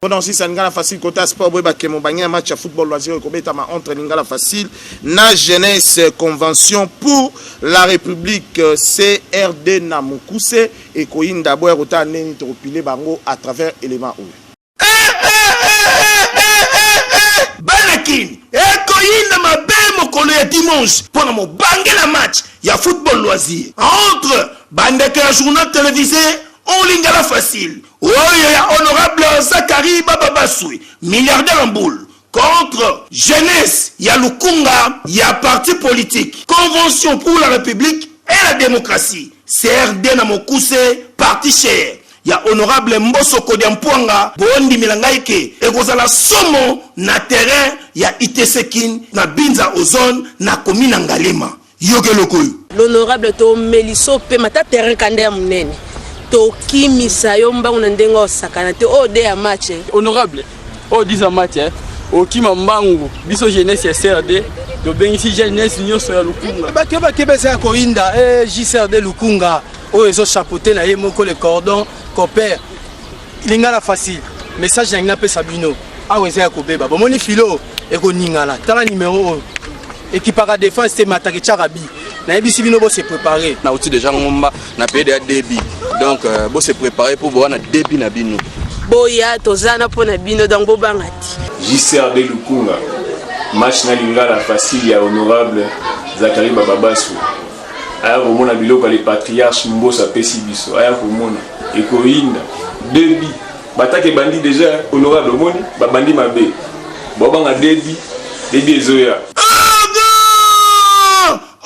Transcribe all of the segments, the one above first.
Mpo na kosisa Lingala Facile kota sport boyeba ke mobange ya match ya football loisir ekobetama entre Lingala Facile na Jeunesse Convention pour la République euh, CRD na mokuse ekoyinda boya kotala ndenge nini tokopile bango à travers élément oyo banakin ekoyinda mabe mokolo ya dimanche mpo na mobange na match ya football loisir entre bandeke ya journal télévisé olingala facile Oyo ya honorable Zachary Baba Basui, milliardaire en boule, contre jeunesse ya lukunga ya parti politique Convention pour la République et la Démocratie, CRD na mokuse parti cher ya honorable Mboso Kodia Mpuanga, bondimela ngai ke ekozala somo na terrain ya ITC Kin na Binza Ozone na commune ya Ngalema. Yoka eloko oyo. L'honorable to meliso pema ta terrain kanda ya munene tokimisa yo mbangu na ndenge osakana te oyo de ya match eh. Honorable oyo 10 ya match eh. okima mbangu biso jeunesse ya CRD tobengisi jeunesse nyonso ya lukunga bato ya bakeba eza ya koyinda eh, jcrd lukunga oyo ezochapote na ye moko le cordon copere Lingala facile. Message na ngina pesa bino. Awa eza ya kobeba. Bomoni filo ekoningana. Tala numero oyo. Ekipaka defense te matake chaka bi. nayebisi bino bose prépare nauti déjà ngomba na pede ya debi donc euh, bose prépare mpo bowana debi na bino boya toza na mpo na bino donc bobanga ti jcrd lukunga match na lingala facile ya honorable zakari bababasu aya komona biloko ya le patriarche mbosa apesi biso aya komona ekoyinda debi bataka ebandi deja honorable omoni babandi mabe bobanga debi debi ezoya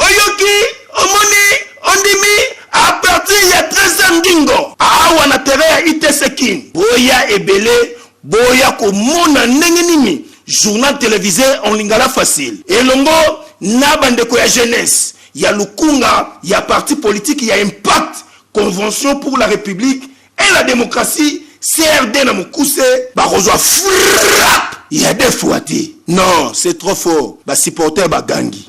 oyoki omoni ondimi a partir ya 13 ndingo awa na terrain ya itc kin boya ebele boya komona ndenge nini journal televise en lingala facile elongo na bandeko ya jeunesse ya lukunga ya parti politique ya impact convention pour la republique et la democratie crd na mokuse bakozwa frappe ya defua te non c'est trop fort ba supporter bagangi